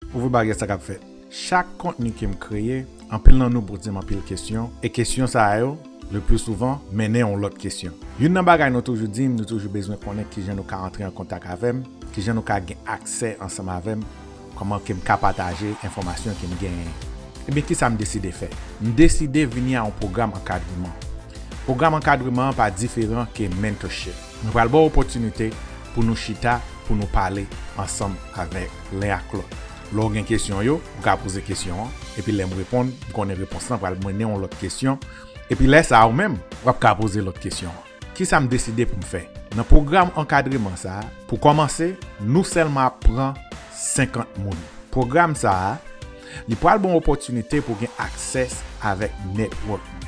Ou vle bagay sa kap fèt. Chak kontni kem kreye, anpil nan nou pozem anpil kesyon, e kesyon sa yo, le pli souvan, mennen yon lòt kesyon. Youn nan bagay nou toujou dim, nou toujou bezwen konnen kijan nou ka antre an kontak avèm, kijan nou ka gen aksè ansanm avèm, kòman kem ka pataje enfòmasyon kem genyen. Ebyen kisa m deside fè? M deside vini a yon pwogram ankadreman. Pwogram ankadreman an pa diferan ke mentorship. Mwen pral ba w opòtinite pou nou chita, pou nou pale ansanm avèk len ak lòt. Lè w gen kesyon yo, ou ka poze kesyon an, epi lè m reponn, m konnen repons lan pral mennen w lòt kesyon, epi lè sa a ou menm, w ap ka poze lòt kesyon an. Kisa m deside pou m fè? Nan pwogram ankadreman sa a, pou kòmanse, nou sèlman ap pran 50 moun. Pwogram sa a. Li pral bon opòtinite pou gen aksès avèk network mwen.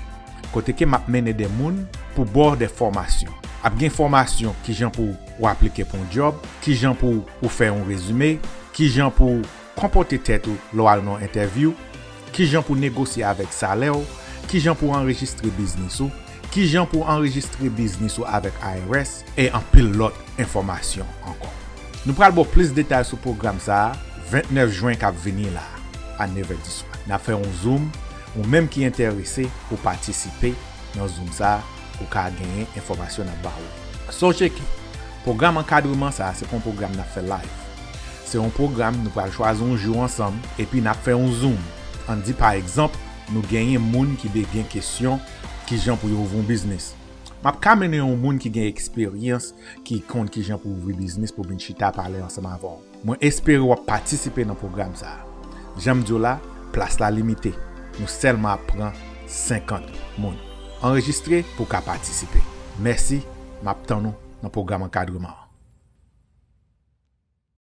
Kote ke map mennen de moun pou baw de fòmasyon. Ap gen fòmasyon kijan pou ou aplike pou yon job, kijan pou ou fè yon rezime, kijan pou konpòte tèt ou lè w al nan yon entèvyou, kijan pou negosye avèk salè w, kijan pou anrejistre biznis ou, Kijan pou w anrejistre biznis ou avèk IRS e anpil lòt enfòmasyon ankò. Nou pral ba w plis detay sou pwogram sa a 29 Jwen k ap vini la a, a nevè di swa. N ap fè yon zoom, ou menm ki enterese pou w patisipe nan zoom sa a, ou ka genyen enfòmasyon n ap ba w yo. Sonje ke pwogram ankadreman sa a se pa yon pwogram n ap fè live. Se yon pwogram nou pral chwazi yon jou ansanm epi n ap fè yon zoom. Ann di pa egzanp nou genyen moun ki de gen kesyon. Kijan pou yo ouvri yon biznis. Map ka mennen yon moun ki gen eksperyans ki konn kijan pou ouvri biznis pou vin chita pale ansanm avè w. Mwen espere wap patisipe nan pwogram sa a. Janm di w la, plas la limite. Nou sèlman ap pran 50 moun. Anrejistre pou w ka patisipe. Mèsi, map tann ou nan pwogram ankadreman an.